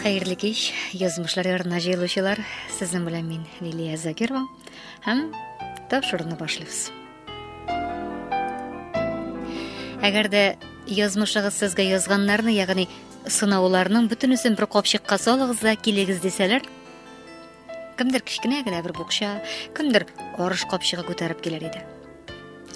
Хәерле кич, язмышлар ярына җыелучылар. Сезнең белән мин Лилия Закирова һәм тапшыруны башлыйбыз. Әгәр дә язмышыгыз сезгә язганнарны, ягъни сынауларның бөтенесен бер капчыкка салыгыз да килегез дисәләр, Кемдер кечкенә генә бер букча, кемдер арыш капчыгы күтәреп килер иде.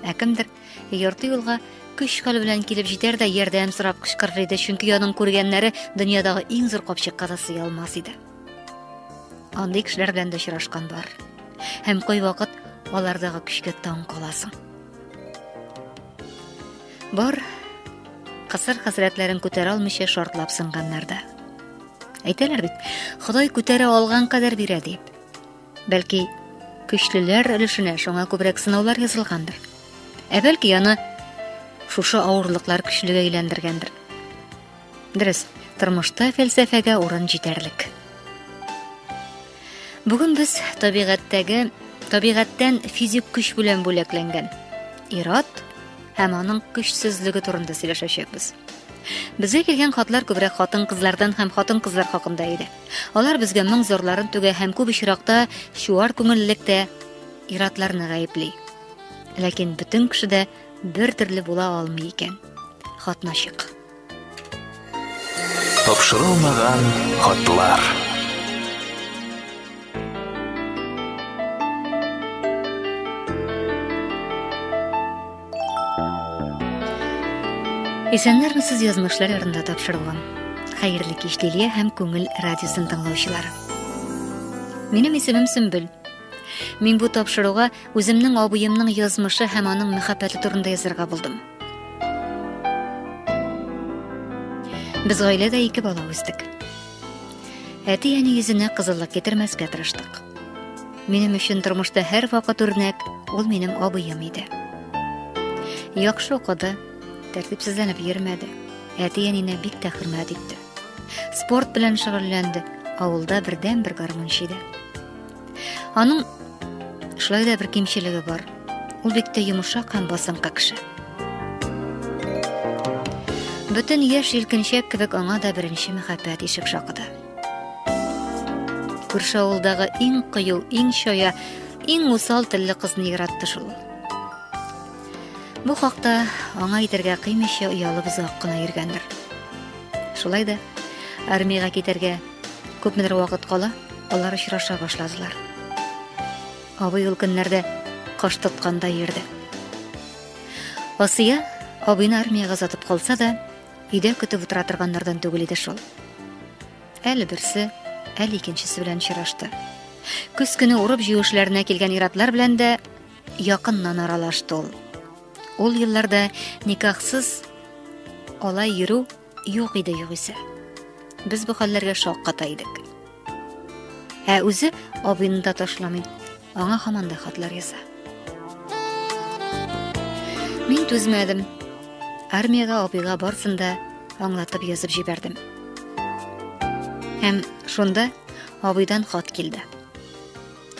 Ә кемдер ярты юлга көч хәл белән килеп җитәр дә ярдәм сорап кычкырыр иде, чөнки аның күргәннәре дөньядагы иң зур капчыкка да сыя алмас иде. Андый кешеләр белән дә очрашкан бар. Һәм кайвакыт алардагы көчкә таң каласың. Бар кысыр хәсрәтләрен күтәрә алмыйча шартлап сынганнар да. Әйтәләр бит, Ходай күтәрә алган кадәр бирә дип. Бәлки, көчлеләр өлешенә шуңа күбрәк сынаулар язылгандыр. Ә бәлки аны шушы авырлыклар көчлегә әйләндергәндер. Дөрес, тормышта фәлсәфәгә урын җитәрлек. Бүген без табигатьтәге табигатьтән физик көч белән бүләкләнгән ират һәм аның көчсезлеге турында сөйләшәчәкбез. Безгә килгән хатлар күбрәк хатын-кызлардан һәм хатын-кызлар хакында иде. Алар безгә моң зарларын түгә һәм күп очракта чуар күңеллектә иратларны гаепли. Ләкин бөтен кеше дә бер төрле була алмый икән. Хатнашык. Тапшырылмаган хатлар. Исәннәрме сез язмышлар ярында тапшырылган. Хәерле кич Лилия һәм Күңел радиосын тыңлаучылары. Минем исемем Сөмбел. Мин бу тапшыруга үземнең абыемның язмышы һәм аның мәхәббәте турында язарга булдым. Без гаиләдә ике бала үстек. Әти-әни йөзенә кызыллык китермәскә тырыштык. Минем өчен тормышта һәр вакыт үрнәк ул минем абыем иде. Яхшы укыды, тәртипсезләнеп йөрмәде. Әти-әнинә бик тә хөрмәт итте. Спорт белән шөгыльләнде, авылда бердән-бер гармунчы иде. Аның шулай да бер кимчелеге бар. Ул бик тә йомшак һәм басынкы кеше. Бөтен яшь җилкенчәк кебек аңа да беренче мәхәббәт ишек шакыды. Күрше авылдагы иң кыю, иң чая, иң усал телле кызны яратты шул. Бу хакта аңа әйтергә кыймыйча оялып озак кына йөргәндер. Шулай да армиягә китәргә Күпмедер вакыт кала, алар очраша башладылар. Абый ул көннәрдә каш тотканда йөрде. Асия абыйны армиягә озатып калса да, өйдә көтеп утыра торганнардан түгел иде шул. Әле берсе, әле икенчесе белән очрашты. Көз көне урып җыюшларына килгән иратлар белән дә якыннан аралашты ул. Ул елларда никахсыз алай йөрү Юк иде югыйсә. Без бу хәлләргә шакката идек. Ә үзе абыйны да ташламый. Аңа хаманда хатлар яза. Мин түзмәдем. Армиягә абыйга барсын да аңлатып язып җибәрдем. Һәм шунда абыйдан хат килде.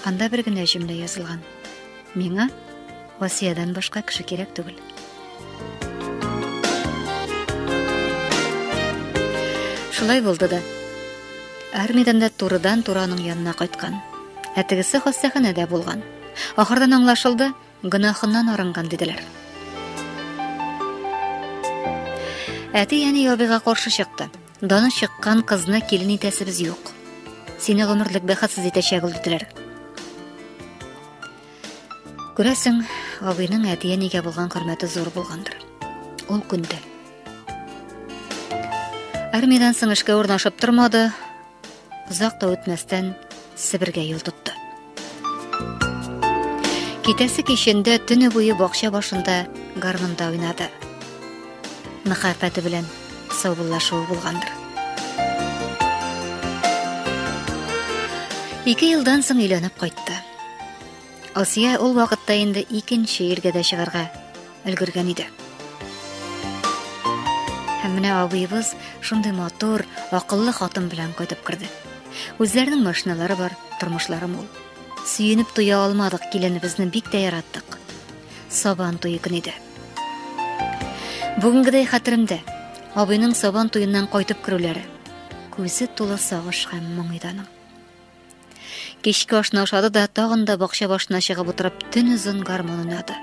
Анда бер генә җөмлә язылган. Миңа Васиядән башка кеше кирәк түгел. Шулай булды да. Армиядән дә турыдан тураның янына кайткан. Ә тегесе хастаханәдә булган. Ахырдан аңлашылды, гөнаһыннан арынган диделәр. Әти әни ябыга каршы чыкты. Даны чыккан кызны килен итәсебез юк. Сине гомерлек бәхетсез итәчәк ул диделәр. Күрәсең, абыйның әти-әнигә булган хөрмәте зур булгандыр. Ул күнде. Армиядән соң эшкә урнашып тормады. Озак та үтмәстән Себергә юл тотты. Китәсе кичендә төне буе бакча башында гармунда уйнады. Мәхәббәте белән саубуллашуы булгандыр. Ике елдан соң өйләнеп кайтты. Асия ул вакытта инде икенче иргә дә чыгарга өлгергән иде. Һәм менә абыебыз шундый матур, акыллы хатын белән кайтып керде. Үзләренең машиналары бар, тормышлары мул. Сөенеп туя алмадык, киленебезне бик тә яраттык. Сабан туе көне иде. Бүгенгедәй хәтеремдә абыйның сабан туеннан кайтып керүләре. Күзе тулы сагыш һәм моңыйданың. Кичке ашны ашады да тагын да бакча башына чыгып утырып төн озын гармон уйнады.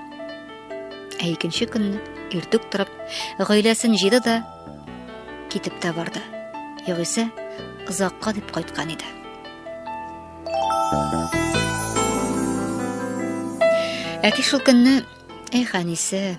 Ә икенче көнне иртүк торып, гаиләсен җыйды да китеп тә барды. Югыйсә, озакка дип кайткан иде. Әти шул көнне, "Эх, әнисе,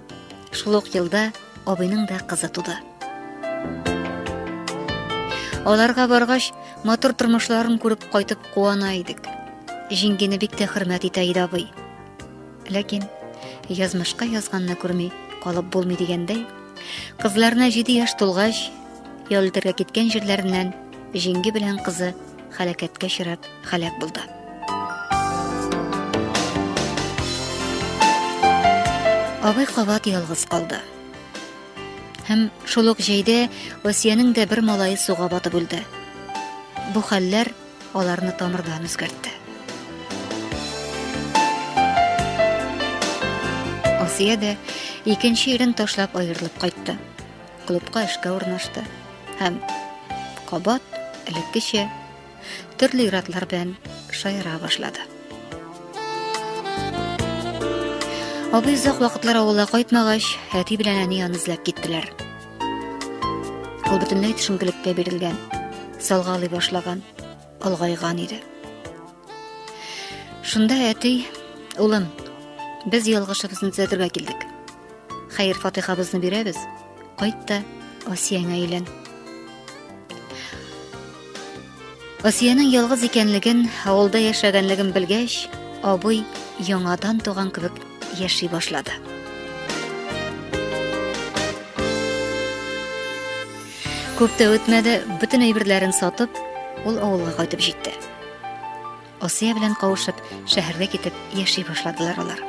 Шул ук елда абыйның да кызы туды. Аларга баргач, матур тормышларын күреп кайтып куана идек. Җиңгене бик тә хөрмәт итә иде абый. Ләкин язмышка язганны күрми калып булмый дигәндәй, кызларына 7 яшь тулгач, ял итәргә киткән җирләреннән җиңге белән кызы һәлакәткә очрап һәлак булды. Абый кабат ялгыз калды. Һәм шул ук җәйдә Асиянең дә бер малае суга батып үлде. Бу хәлләр аларны тамырдан үзгәртте. Асия дә икенче ирен ташлап аерылып кайтты. Клубка эшкә урнашты һәм кабат элеккечә төрле иратлар белән шаяра башлады. Абый озак вакытлар авылга кайтмагач, әти белән әни аны эзләп киттеләр. Ул бөтенләй төшенкелеккә бирелгән, салгалый башлаган, олгайган иде. Шунда әти, улым, без ялгышыбызны төзәтергә килдек. Хәер-фатыйхабызны бирәбез, кайт та Асиянә әйлән. Асиянең ялгыз икәнлеген, авылда яшәгәнлеген белгәч, абый яңадан туган кебек яши башлады. Күп тә үтмәде, бөтен әйберләрен сатып, ул авылга кайтып җитте. Асия белән кавышып, шәһәргә китеп яши башладылар алар.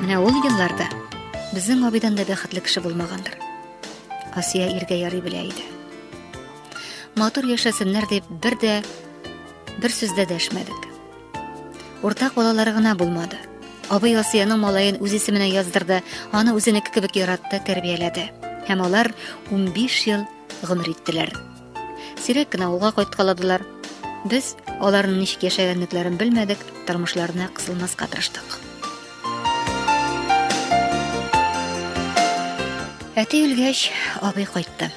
Менә ул елларда безнең абидан да бәхетле кеше булмагандыр. Асия иргә ярый белә иде. Матур яшәсеннәр дип бер дә бер сүз дә дәшмәдек. Уртак балалары гына булмады. Абый Асияның малаен үз исеменә яздырды, аны үзенеке кебек яратты, тәрбияләде. Һәм алар 15 ел гомер иттеләр. Сирәк кенә авылга кайткаладылар. Без аларның ничек яшәгәнлекләрен белмәдек, тормышларына кысылмаска тырыштык. Әти үлгәч, абый кайтты.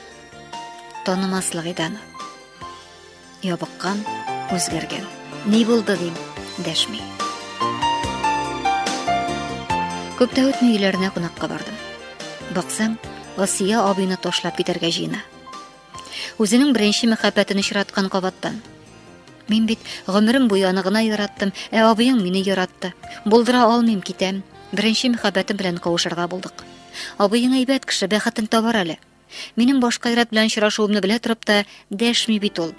Танымаслык иде аны. Ябыккан, үзгәргән. Ни булды дим, дәшми. Күп тә үтми өйләренә кунакка бардым. Баксам, Асия абыйны ташлап китәргә җыена. Үзенең беренче мәхәббәтен очраткан кабаттан. Мин бит гомерем буе аны гына яраттым, ә абыең мине яратты. Булдыра алмыйм, китәм. Беренче мәхәббәтем белән кавышырга булдык. Абыең әйбәт кеше, бәхетен табар әле. Минем башка ират белән очрашуымны белә торып та дәшми бит ул.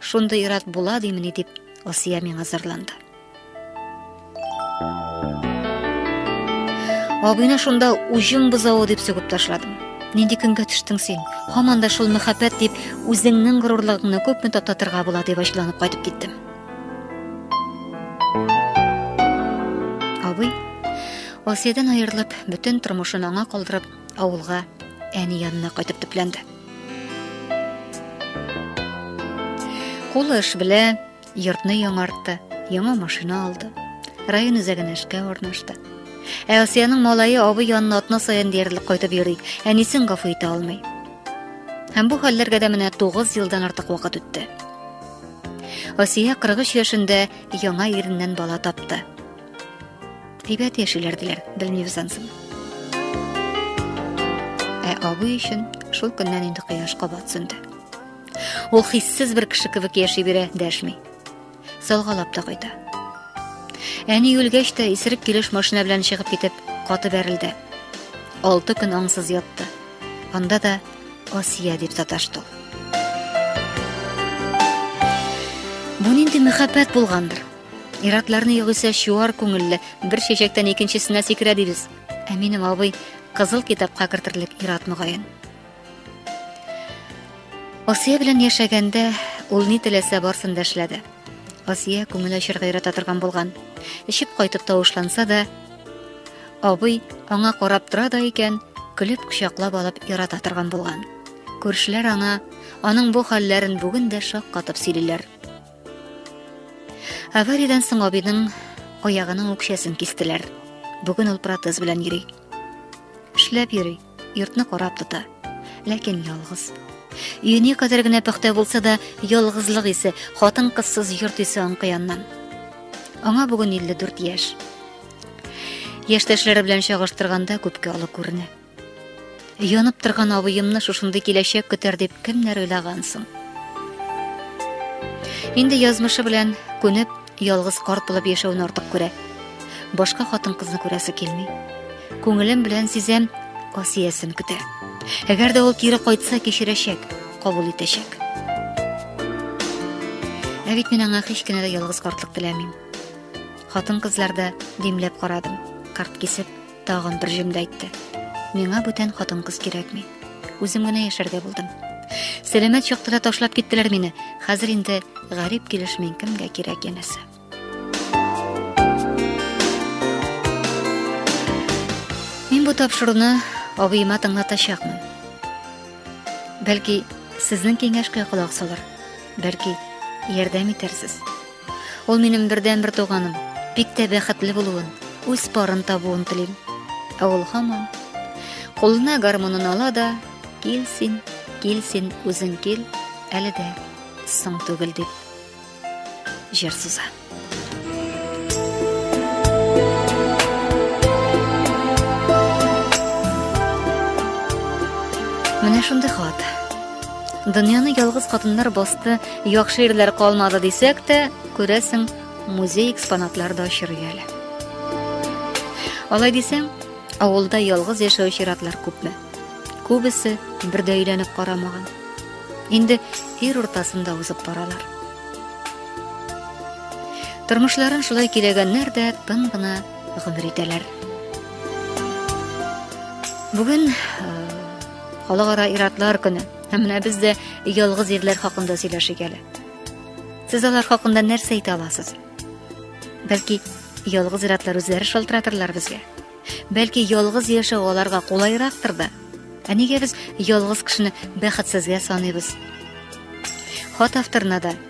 Шундый ират була димени дип, Асия миңа зарланды. Абыйны шунда уҗым бозавы дип сүгеп ташладым. Нинди көнгә төштең син? Һаман да шул мәхәббәт дип үзеңнең горурлыгыңны күпме тататырга була дип ачуланып кайтып киттем. Абый, Асиядән аерылып, бөтен тормышын аңа калдырып, авылга әни янына кайтып төпләнде. Кулы эш белә, Йортны яңартты, яңа машина алды. Район үзәгенә эшкә урнашты. Ә Асиянең малае абый янына атна саен диярлек кайтып йөри, әнисен гафу итә алмый. Һәм бу хәлләргә дә менә 9 елдан артык вакыт үтте. Асия 43 яшендә яңа иреннән бала тапты. Әйбәт яшиләр диләр, белмибез ансын. Ә абый өчен шул көннән инде кояш кабат сүнде. Ул хиссез бер кеше кебек яши бирә, дәшми. Салгалап та кайта. Әни үлгәч тә исерек килеш машина белән чыгып китеп, каты бәрелде. Алты көн аңсыз ятты. Анда да Асия дип саташты. Бу нинди мәхәббәт булгандыр? Иратларны югыйсә чуар күңелле, бер чәчәктән икенчесенә сикерә дибез. Ә минем абый кызыл китапка кертерлек ират мөгаен. Асия белән яшәгәндә ул ни теләсә барсын да эшләде. Асия күңел ачырга ярата торган булган. Эчеп кайтып тавышланса да, абый аңа карап тора да икән, көлеп кочаклап алып ярата торган булган. Күршеләр аңа аның бу хәлләрен бүген дә шаккатып сөйлиләр. Авариядән соң абыйның аягының үкчәсен кистеләр. Бүген ул протез белән йөри. Эшләп йөри. Йортны карап тота. Ләкин ялгыз. Өене кадәр генә пөхтә булса да, ялгызлык исе, хатын-кызсыз йорт исе аңкыяннан. Аңа бүген 54 яшь. Яшьтәшләре белән чагыштырганда күпкә олы күренә. Янып торган абыемны шушындый киләчәк көтәр дип кемнәр уйлаган соң? Инде язмышы белән күнеп, Ялгыз карт булып яшәүне артык күрә. Башка хатын-кызны күрәсе килми. Күңелем белән сизәм, Асиясен көтә. Әгәр дә ул кире кайтса, кешерәчәк, кабул итәчәк. Ә бит мин аңа һич кенә дә ялгыз картлык теләмим. Хатын-кызларда димләп карадым. Карт кисеп, Тагын бер җөмлә әйтте. Миңа бүтән хатын-кыз кирәкми. Үзем генә яшәргә булдым. Сәламәт чакта да ташлап киттеләр мине. Хәзер инде гарип килеш мин кемгә кирәк янәсе. Мин бу тапшыруны абыема тыңлатачакмын. Бәлки, сезнең киңәшкә колак салыр. Бәлки, ярдәм итәрсез. Ул минем бердәнбер туганым. Бик тә бәхетле булуын, үз парын табуын телим. Ә ул һаман кулына гармонын ала да, кил син, кил син, үзең кил, әле дә соң түгел дип. Җыр суза. Менә шундый хат. Дөньяны ялгыз хатыннар басты, яхшы ирләр калмады дисәк тә, күрәсең, музей экспонатлары да очрый әле. Алай дисәң, авылда ялгыз яшәүче иратлар күпме? Күбесе бер дә өйләнеп карамаган. Инде ир уртасында узып баралар. Тормышларын шулай киләгәннәр дә тын гына гомер итәләр. Бүген Халыкара иратлар көне. Һәм менә без дә ялгыз ирләр хакында сөйләшик әле. Сез алар хакында нәрсә әйтә аласыз? Бәлки, ялгыз иратлар үзләре шалтыратырлар безгә. Бәлки, ялгыз яшәү аларга кулайрактыр да. Ә нигә без ялгыз кешене бәхетсезгә саныйбыз? Хат авторына да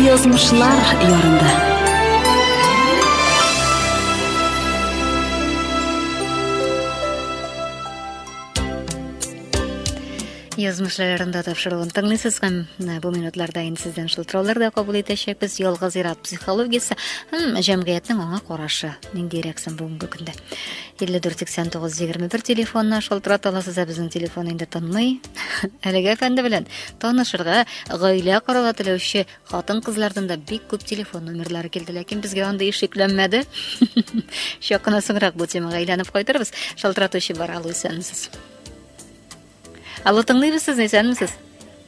Язмышлар ярында. Язмышлар ярында тапшыруын тыңлыйсыз һәм э, бу минутларда инде сездән шылтыраулар да кабул итәчәкбез. Ялгыз ир-ат психологиясе һәм җәмгыятьнең аңа карашы ниндиерәк соң бүгенге көндә илле дүрт сиксән тугыз егерме бер телефонына шалтырата аласыз ә безнең телефон инде тынмый әлеге әфәнде белән танышырга гаилә корала теләүче хатын кызлардан да бик күп телефон номерлары килде ләкин безгә андый эш йөкләнмәде чак кына соңрак бу темага әйләнеп кайтырбыз шалтыратучы бар алло исәнмесез Алло, тыңлыйбыз сезне, исәнмесез?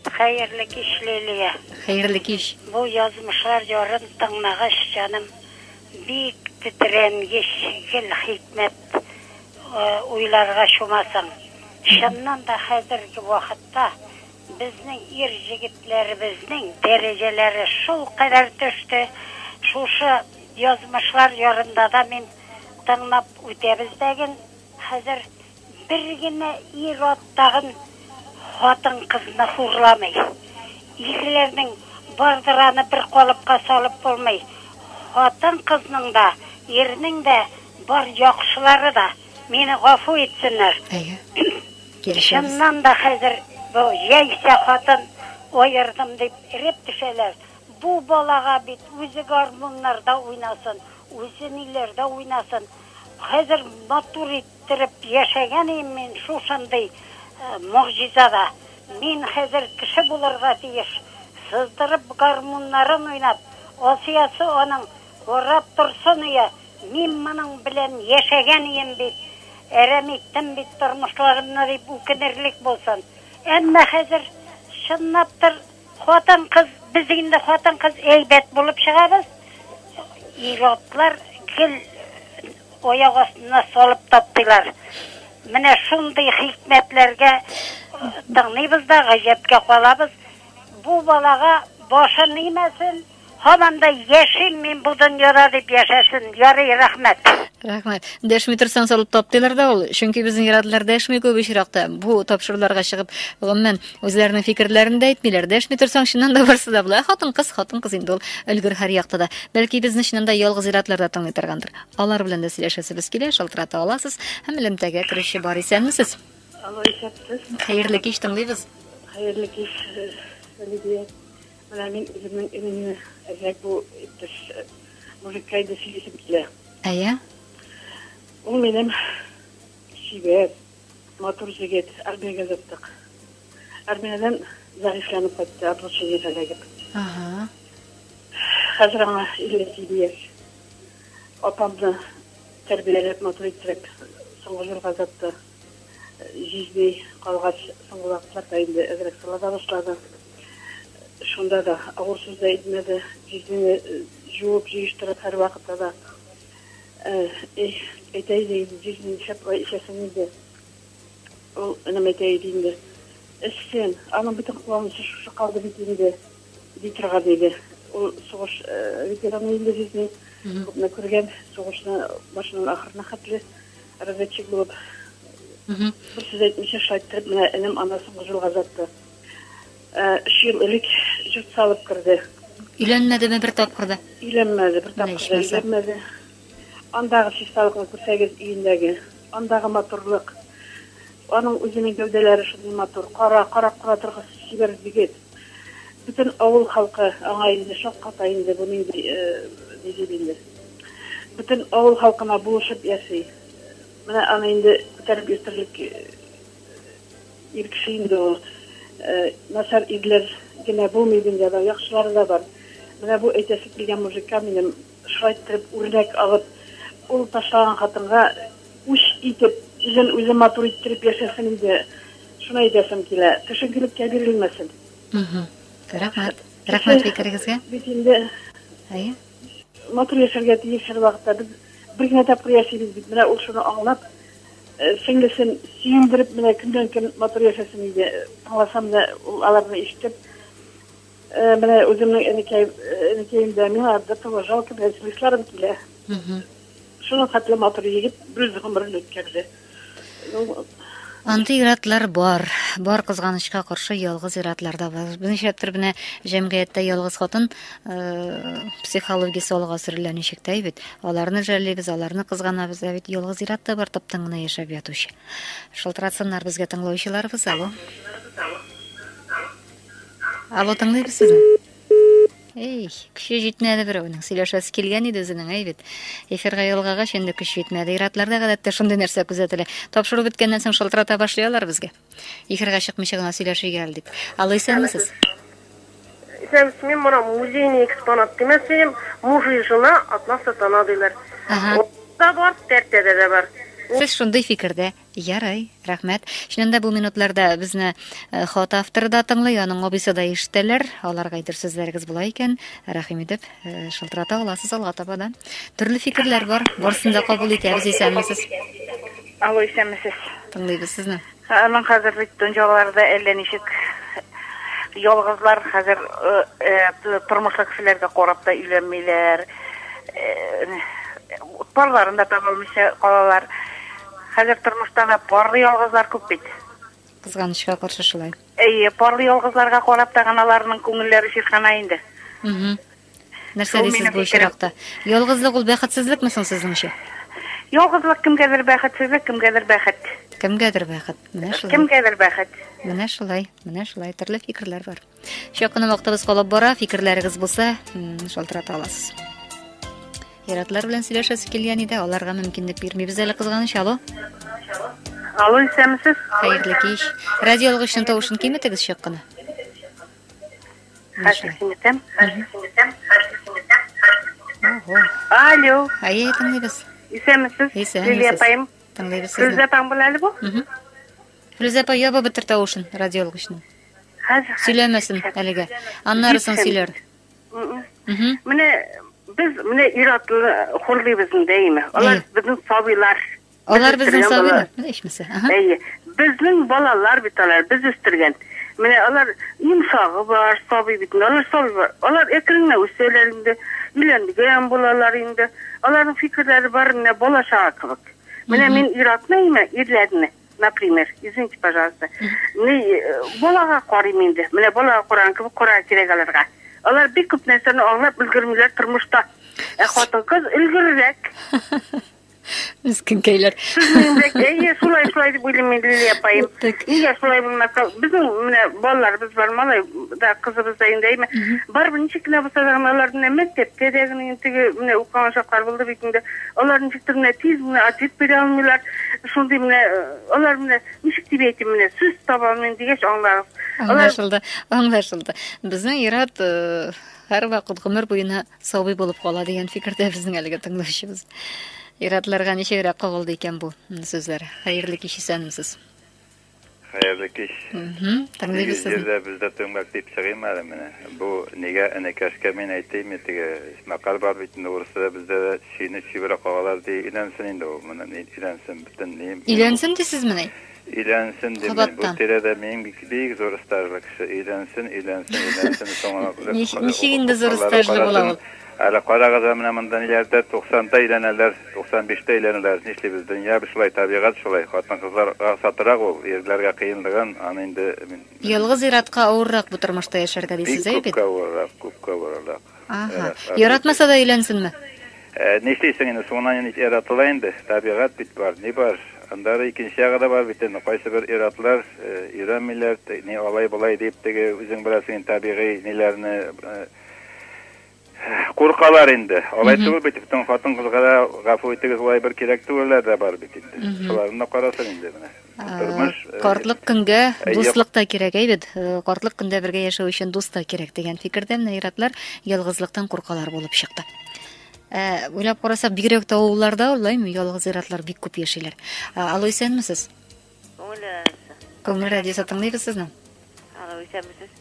Хәерле кич, Лилия. Хәерле кич. Бу язмышлар ярын тыңлагач, җаным бик тетрәнгеч, гел хикмәт э, уйларга чумасың. Чыннан да хәзерге вакытта безнең ир җегетләребезнең дәрәҗәләре шул кадәр төште. Шушы язмышлар ярында да мин тыңлап үтәбез дәген. Хәзер Бер генә ир-ат тагын хатын-кызны хурламый. Ирләрнең бардыр аны бер калыпка салып булмый. Хатын-кызның да, ирнең дә бар яхшылары да. Мине гафу итсеннәр. Әйе. Килешәбез. Чыннан да хәзер бу яисә хатын аердым дип эреп төшәләр. Бу балага бит үзе гармуннарда уйнасын, үзе ниләрдә уйнасын. Хәзер матур ит. Иттереп яшәгән им мин шушындый могҗизада. Мин хәзер кеше булырга тиеш. Сыздырып гармуннарын уйнап, Асиясе аның, Карап торсын, йә, мин моның белән яшәгән ием бит, әрәм иттем бит тормышларымны, дип үкенерлек булсын. Әмма хәзер, чынлап тыр, хатын-кыз, без инде хатын-кыз әйбәт булып чыгабыз, ир-атлар гел Аяк астына салып таптыйлар. Менә шундый хикмәтләргә тыңлыйбыз да гаҗәпкә калабыз. Бу балага башы нимәсен, һаман да яшим мин бу дөньяда дип яшәсен. Ярый, рәхмәт. Рәхмәт. Дәшми торсаң салып таптыйлар да ул. Чөнки безнең ирадлар дәшми күп очракта. Бу тапшыруларга чыгып, гомумән, Үзләренең фикерләрен дә әйтмиләр, дәшми торсаң, чыннан да барсы да була. Хатын-кыз, хатын-кыз инде ул өлгер һәр якта да. Бәлки безне чыннан да ялгыз иратлар да тыңлый торгандыр. Алар белән дә сөйләшәсебез килә, шалтырата аласыз һәм элемтәгә керүче бар исәнмесез. Алло, исәпсез. Хәерле кич тыңлыйбыз. Хәерле кич, Лидия. Менә мин үземнең иремне әзрәк бу иптәш мужикка иде сөйлисем килә. Әйе. Ул минем чибәр. Матур җегет, армиягә озаттык. Армиядән зәгыйфьләнеп кайтты, облучениегә эләгеп. Ага. Хәзер аңа 57 яшь. Апамны тәрбияләп, матур иттереп, соңгы җиргә озатты. Җизни калгач, соңгы вакытларда инде әзрәк сала да башлады. Шунда да авыр сүз дә әйтмәде. Җизнине җуып, җыештырып, һәрвакытта да Эх, әйтә иде инде, җиз мин шәп ай эчәсең инде. Ул энем әйтә иде инде. Эчсен, аның бөтен кыланысы шушы калды бит инде, ди торган иде. Ул сугыш ветераны инде җизни, күпне күргән, сугышны башыннан ахырына хәтле разведчик булып. Бер сүз әйтмичә шайттереп менә энем ана соңгы җылга озатты. Өч ел элек җорт салып керде. Өйләнмәдеме бер тапкыр да? Өйләнмәде, бер тапкыр да өйләнмәде. Андагы чисталыкны күрсәгез өендәге, андагы матурлык. Аның үзенең гәүдәләре шундый матур, кара, карап кала торгыс чибәр егет. Бөтен авыл халкы аңа инде шакката инде бу нинди дип инде. Бөтен авыл халкына булышып яши. Менә аны инде күтәреп йөртерлек Ир кеше инде ул. Начар ирләр генә булмый дөньяда, яхшылары да бар. Менә бу әйтәсе килгән мужикка минем шулай иттереп үрнәк алып, ул ташлаган хатынга үч итеп, үзен үзе матур иттереп яшәсен иде. Шуны әйтәсем килә. Төшенкелеккә бирелмәсен. Рәхмәт. Рәхмәт фикерегезгә. Бит инде. Әйе. Матур яшәргә тиеш һәрвакытта. Без бер генә тапкыр яшибез бит. Менә ул шуны аңлап, сеңлесен сөендереп, менә көннән-көн матур яшәсен иде. Тыңласам да, ул аларны ишетеп, менә үземнең энекәем, энекәем дә, миңа до того жалко, менә слезларым килә. Шуның хәтле матур егет үз гомерен үткәрде. Андый иратлар бар. Бар кызганычка каршы ялгыз иратлар да бар. Берничәптер генә җәмгыятьтә ялгыз хатын э, психологиясе алга сөрелә ничек тә бит. Аларны жәллибез, аларны кызганабыз, ә бит ялгыз ират та бар таптың гына яшәп ятучы. Шылтыратсыннар безгә тыңлаучыларыбыз. Алло. Алло, тыңлыйбыз сезне. Эй, көче җитмәде берәүнең. Сөйләшәсе килгән иде үзенең, әй бит. Эфирга ялгагач инде көч җитмәде. Иратларда гадәттә шундый нәрсә күзәтелә. Тапшыру беткәннән соң шылтырата башлыйлар безгә. Эфирга чыкмыйча гына сөйләшергә гел дип. Алло, исәнмесез? Исәнмесез, мин моны музейный экспонат димәсем, муж и жена одна сатана диләр. Ага. Бар, тәртәдә дә бар. Сез шундый фикердә. Ярай, рәхмәт. Чыннан да бу минутларда безне э, хат авторы да тыңлый, аның абыйсы да ишетәләр. Аларга әйтер сүзләрегез була икән, рәхим итеп э, шылтырата аласыз алга таба да. Төрле фикерләр бар, барысын да кабул итәбез, исәнмесез. Алло, исәнмесез. Тыңлыйбыз сезне. Аның хәзер бит дөньяларда әллә ничек ялгызлар хәзер э, э, тормышлы кешеләргә карап та өйләнмиләр. Э, парларын да таба алмыйча калалар. Хәзер тормышта да парлы ялгызлар күп бит. Кызганычка каршы шулай. Әйе, парлы ялгызларга карап та гына аларның күңелләре чиркана инде. Нәрсә дисез бу очракта? Ялгызлык ул бәхетсезлекме соң сезнеңчә? Ялгызлык кемгәдер бәхетсезлек, кемгәдер бәхет. Кемгәдер бәхет. Менә шулай. Кемгәдер бәхет. Менә шулай, менә шулай. Төрле фикерләр бар. Чак кына вакытыбыз калып бара, фикерләрегез булса, шалтырата аласыз. Яратлар белән сөйләшәсе килгән иде, аларга мөмкинлек бирмибез әле кызганыч. Алло. Алло, исәнмесез? Хәерле кич. Радио алгычның тавышын киметегез чак кына. Хәзер киметәм. Хәзер киметәм. Хәзер киметәм. Алло. Әйе, тыңлыйбыз. Исәнмесез? Исәнмесез. Лилия апаем. Тыңлыйбыз сезне. Сездә таң була әле бу? Флүзә апа, яба бетер тавышын радиолык өчен. Хәзер сөйләмәсен әлегә. Аннары соң сөйләр. Менә без менә ир-атны хурлыйбыз инде, әйеме? Алар безнең сабыйлар. Алар безнең сабыйлар, ишмәсә. Әйе. Безнең балалар бит алар, без үстергән. Менә алар имсагы бар, сабый бит. Алар сабый бар. Алар әкренләп үсәләр инде. Өйләнгән булалар инде. Аларның фикерләре бар, менә балачага кебек. Менә мин ир-атны, әйеме, ирләрне. например, извините, пожалуйста, ни, э, балага карыйм инде. Менә балага караган кебек карарга кирәк аларга. Алар бик күп нәрсәне аңлап өлгермиләр тормышта. Ә хатын-кыз өлгеррәк. Мескенкәйләр. Сүзләндек. Әйе, шулай шулай дип уйлыйм мин Лилия апаем. Так. Нигә шулай булмаска? Безнең менә балаларыбыз бар, малай да кызыбыз да инде әйме. Барыбер ничек кенә булса да гына алар менә мәктәптә дә генә инде теге менә укыган чаклар булды бит инде. Алар ничек тә менә тиз генә ответ бирә алмыйлар. Шундый менә алар менә ничек дип әйтим менә сүз таба алмыйм дигәч аңлагыз. Аңлашылды, аңлашылды. Безнең ират һәрвакыт гомер буена сабый булып кала дигән фикердә безнең әлеге тыңлаучыбыз. Иратларга ничегрәк кагылды икән бу сүзләр? Хәерле кич исәнмесез. Хәерле кич. Тыңлыйбыз сезне. Җирдә бездә төмәк дип чыгыйм әле менә. Бу нигә энекәшкә мин әйтим, теге мәкаль бар бит инде урысча бездә дә чөйне чибрә кагалар ди. Иләнсен инде ул. Моны иләнсен бөтен ни. Иләнсен дисезмени? Иләнсен дим. Бу тирәдә мин бик бик зур стажлы кеше. Иләнсен, иләнсен, иләнсен соңына. Ничек инде зур стажлы була ул? Әле карагыз ә менә монда ниләрдә, туксанда өйләнәләр, туксан биштә өйләнәләр, нишлибез, дөнья шулай, табигать шулай, хатын-кызларга ансатырак ул, ирләргә кыенлыгын, аны инде мин. Ялгыз ир-атка авыррак бу тормышта яшәргә дисез, әй бит? Бик күпкә авыррак, күпкә авыррак. Аһа. Яратмаса да өйләнсенме? Нишлисең инде, соңыннан ин яратыла инде, табигать бит бар, ни бар. Аннары икенче ягы да бар бит инде, кайсыбер ир-атлар өйрәнмиләр, ни алай-болай дип, теге үзең беләсең инде табигый ниләрне, Куркалар инде. Алай түгел бит, бүтән хатын-кызга да гафу итегез, улай бер кирәк түгелләр дә бар бит инде. Шуларны да карасын инде менә. Тормыш э, картлык көнгә э, дуслык та кирәк, әйбит. Э, картлык көндә бергә яшәү өчен дус та кирәк дигән фикердә менә иратлар ялгызлыктан куркалар булып чыкты. Ә уйлап карасак, бигрәк тә авылларда улаймы ялгыз иратлар бик күп яшиләр. Алло, исәнмесез? Күңел радиосы. Күңел радиосы тыңлыйбыз сезне. Алло, исәнмесез.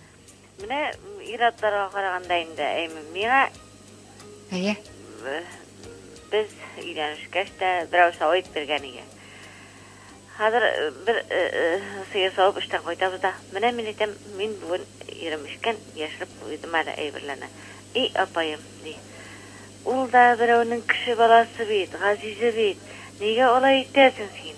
Менә ир-атларга караганда инде, әйме, миңа Әйе. э, без өйләнешкәч тә берәү савып биргән иде. Хәзер э, бер э, э, сыер савып эштән кайтабыз да, менә мин әйтәм, мин бүген ирем эчкән, яшереп куйдым әле әйберләрне. И апаем, ди. Ул да берәүнең кеше баласы бит, газизе бит. Нигә алай итәсең син?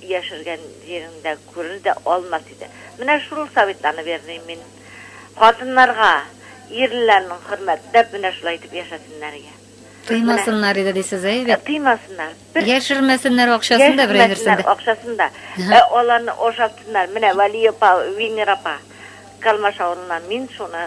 Яшергән җиреңдә күрер дә алмас иде. Менә шул советларны бирдем мин хатыннарга, ирләрнең хөрмәтләп менә шулай итеп яшәсеннәргә. Тыймасыннар иде дисез, әйе бит? Тыймасыннар. Яшермәсеннәр акчасын да, берәй нәрсән дә. Яшермәсеннәр акчасын да. Ә аларны ашатсыннар. Менә Вәли апа, Винер апа, Калмаш авылыннан, мин шуны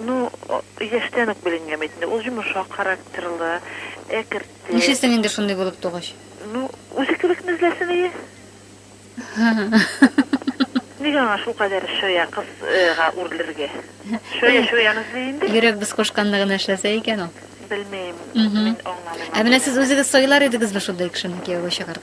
Ну, яшьтән үк беленгән бит инде, ул йомшак характерлы, әкерте. Нишлисең инде шундый булып тугач? Ну, үзе кебекне эзләсен ие. Нигә аңа шулкадәр чая кызга үрелергә? Чая чаян эзли инде. Йөрәк без кушканны гына эшләсә икән ул. Белмим, мин аңламыйм. Ә менә сез үзегез сайлар идегезме шундый кешене кияүгә чыгарга?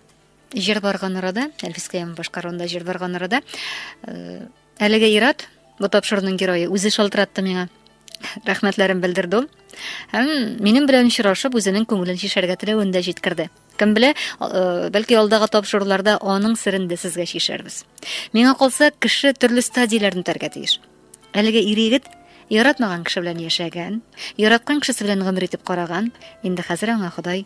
Җыр барган арада, Әлфис Кыямов башкаруында җыр барган арада, э, әлеге ират, бу тапшыруның герое, үзе шалтыратты миңа. Рәхмәтләрен белдерде ул. Һәм минем белән очрашып, үзенең күңелен чишәргә теләвен дә җиткерде. Кем белә, э, бәлки алдагы тапшыруларда аның сырын да сезгә чишәрбез. Миңа калса, кеше төрле стадияләрне үтәргә тиеш. Әлеге ир егет яратмаган кеше белән яшәгән, яраткан кешесе белән гомер итеп караган, инде хәзер аңа Ходай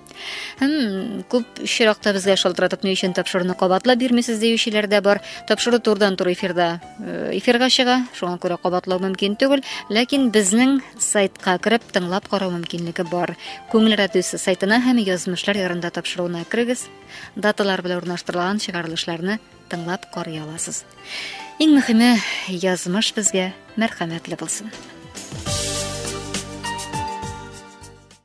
Хм, күп очракта безгә шалтыратып ни өчен тапшыруны кабатлап бирмисез диючеләр дә бар. Тапшыру турдан тур эфирда э, эфирга чыга, шуңа күрә кабатлау мөмкин түгел, ләкин безнең сайтка кереп тыңлап карау мөмкинлеге бар. Күңел радиосы сайтына һәм язмышлар ярында тапшыруына керегез. Даталар белән урнаштырылган чыгарылышларны тыңлап карый аласыз. Иң мөхиме язмыш безгә мәрхәмәтле булсын.